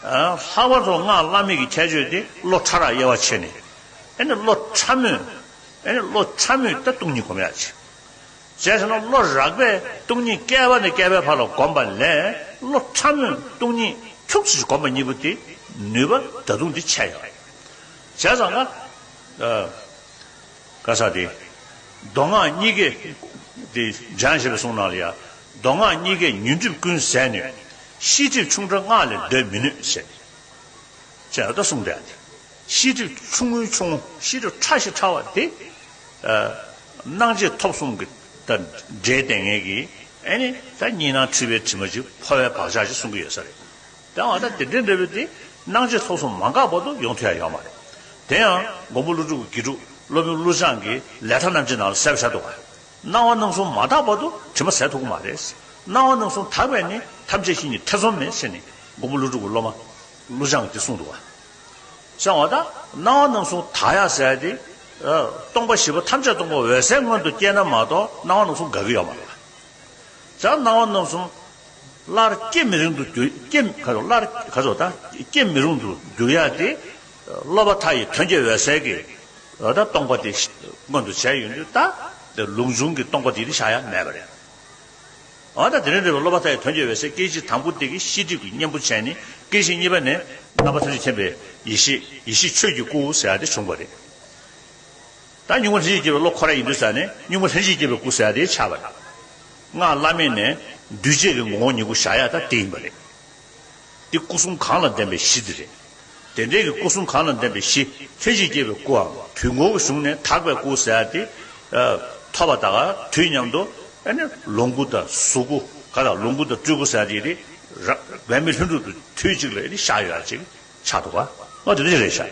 ལྷག་པར་དུ་སྔགས་བླ་མེད་ཀྱི་ཁྱད་ཆོས་དེ་བློ་ཕྲ་རགས་དབྱེ་བ་ཕྱེ་ནས། བློ་ཕྲ་མོས། བློ་ཕྲ་མོས་ཏེ་སྟོང་ཉིད་གོམས་ཡ་བྱེད། བྱས་ཟིན་ན་བློ་རགས་པས་སྟོང་ཉིད་བསྐལ་པ་ནས་བསྐལ་པའི་བར་ལ་བསྒོམས་པ་ལས་བློ་ཕྲ་མོས་སྟོང་ཉིད་ཁྱུག་ཅིག་བསྒོམས་པ་གཉིས་པོ་དེ་ནུས་པ་ད་དུང་དེ་ཆད་ཡོད། བྱས་ཙང་ང། ཀ་ས་ཏེ། མདོ་སྔགས་གཉིས་ཀའི། སྦྱང་ཞེས་པའི་གསུང་ནང་ལ་ཡང། མདོ་སྔགས་གཉིས་ཀའི་ཉོན་སྒྲིབ་ཀུན་བསལ་ནུས། ཤེས་སྒྲིབ་ཆུང་ཕྲ་སྔགས་ལས་འདོད་མི་ནུས། ཞེས་ཨ་ཏོ་གསུངས་པས། ཤེས་སྒྲིབ་ཆུང་ངུའི་ཆུང། ཤེས་སྒྲིབ་ཕྲ་ཞིང་ཕྲ་བ་སྟེ། སྣང་མཆེད་ཐོབ་གསུམ་གྱི་དང་སྒྲའི་ལྟས་ངན་གྱིས་ཨེ་ནི་ད་གཉིས་སྣང་འཁྲུལ་པའི་དྲི་མ་གཅིག་འཕོ་བའི་བག་ཆགས་ཞེས་གསུང་གི་ཡོད་ས་རེད། དེ་འང་ད་དེ་འདྲའི་འབྲས་བུ་དེ་སྣང་མཆེད་ཐོབ་གསུམ་མ་འགགས་པར་དུ་ཡོང་ཐུ་ཡང་ཡོད་མ་རེད། དེ་ཡང་མགོན་པོ་ཀླུ་སྒྲུབ་ཀྱི་དགེ་ཕྲུག་སློབ་དཔོན་ཀླུ་བྱང་གིས་ལས་མཐའ་རྣམས་ཀྱི་ནང་ལ་གསལ་བར་བྱ་འདུག་པ། སྣང་བ་སྣང་གསུམ་མ་དག་པར་དུ་དྲི་མ་ཟད་དོ་གོ་མ་རེད། སྣང་བ་སྣང་གསུམ་དག་པས་ནི་ཐམས་ཅད་ཞི་ནི་ཐེ་ཚོམ་མེད་ཟེར་ནས་མགོན་པོ་ཀླུ་སྒྲུབ་ཀྱི་སློབ་མ་ཀླུ་བྱང་གིས་གསུངས་འདུག་བ། གསང་བ་དང། སྣང་བ་སྣང་གསུམ་དག་ཡང་ཟད་དེ། སྟོང་པ་བཞི་པོ་ཐམས་ཅད་སྟོང་པ་འོད་གསལ་མངོན་དུ་སྐྱེས་ན་མ་གཏོགས་སྣང་བ་སྣང་གསུམ་འགག་གི་ཡོད་མ་རེད་བ། ད་སྣང་བ་སྣང་གསུམ་སླར་སྐྱེ་མི་རུང་དུ་གྱུར། སྐྱེ་མི་རུང་དུ་འགྱུར་ཡ་དེ། སློབ་མ་མཐའ་ཡི་དོན་རྒྱལ་བའི་ཟས་ཀྱི་སྟོང་པ་དེ་མངོན་དུ་བྱས་ཡོད་འདུག་ད་དེ་ལུགས་འབྱུང་གི་སྟོང་པ་དེ་ནི་བྱ་ཡ་མེད་པ་རེད། འོན་ཏང་དེ་རིང་འདྲི་བའི་སློབ་མ་མཐའ་ཡི་དོན་རྒྱལ་བའི་ཟས་སྐད་ཅིག་དང་པོ་དེ་གི་ཤེས་སྒྲིབ་ཀྱི་གཉེན་པོ་ཅན་ནི་སྐད་ཅིག་གཉིས་པ་ནས་རྣམ་པ་ཐམས་ཅད་མཁྱེན་པའི་ཡེ་ཤེས་ཡེ་ཤེས་ཆོས་ཀྱི་སྐུ་ཟེར་བ་དེ་བྱུང་བ་རེད། ད་གཉུག་མ་ལྷན་ཅིག་སྐྱེས་པའི་བློ་ཁོ་ར་ཡིན་འདུག་ས་ནས་གཉུག་མ་ལྷན་ཅིག་སྐྱེས་པའི་སྐུ་ཟེར་བ་དེ་ཆགས་པ་རེད། སྔགས་བླ་མེད་ནས་འདུས་བྱས་ཀྱི་ངོ་བོ་ཉིད་སྐུ་བྱ་ཡ་ད་དེ་ཡིན་པ་རེད། འདི་སྐུ་གསུམ་གང་ལ་ལྡན་པའི་གཞི་འདི་རེད། དེ་འབྲེལ་གྱི་སྐུ་གསུམ་གང་ལ་ལྡན་པའི་གཞི་ལྷན་ཅིག་སྐྱེས་པའི་སྐུའམ། དུས་འཁོར་གྱི་གཞུང་ནས་དག་པའི་སྐུ་ཟེར་ཏེ། ཐོབ་པ་དག་དུས་མཉམ་དུ། ལོངས་སྐུ་དང་གཟུགས་སྐུ། ག་ལ་ལོངས་སྐུ་དང་སྤྲུལ་སྐུ་ཟེར་ཏེ། རང་མི་ལྷུན་གྲུབ་ཏུ་དུས་གཅིག་ལ་བཞག་ཡོད་ཅེས་བྱ་འདུག་ག་ལ་དེ་འདྲ་རེད་བྱ།